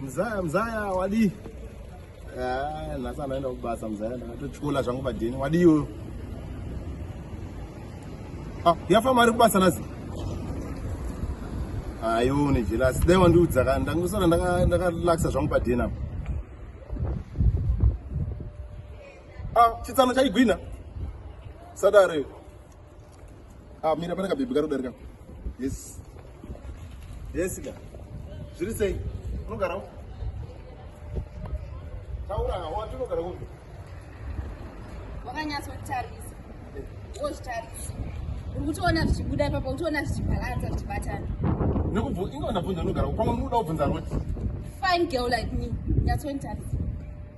Mzaya mzaya wadi. Ah, nhasi anaenda kubasa mzaya ndakatotyula zvangu badheni wadi iyoyo. Ah, yafa mari kubasa nhasi. Ayo ah, ne jealous. Dai wandiudza ka ndangusara ndaka ndakalaxa zvangu badheni apa. Ah, chitsano chaigwina. Sadare. Ah, mira pane kabhebhi kari kudarika. Yes. Yes ka. Zviri sei? Unogara uko? Taura ka, wati unogara uko? Wakanyatso kutarisa. Wozvitarisa. Uri kutoona zvichibuda ipapo, kutoona zvichibalansa zvichibatana. Nekubvu, inga vanabvunza unogara uko, pamwe unoda kubvunza roti. Fine girl like me, nyatso nitarisa.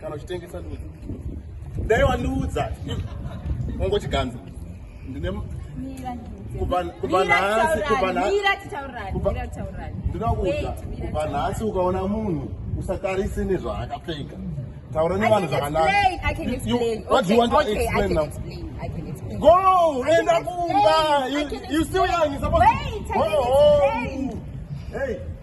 kana uchitengesa ndudzi dai wandiudza ongochiganza ndine kubva nhasi kubva nhasi ndinoda kuudza kubva nhasi ukaona munhu usatarise nezvaakapfeka taura nevanhu zvakanago enda kumba you still young you supposed to go home hey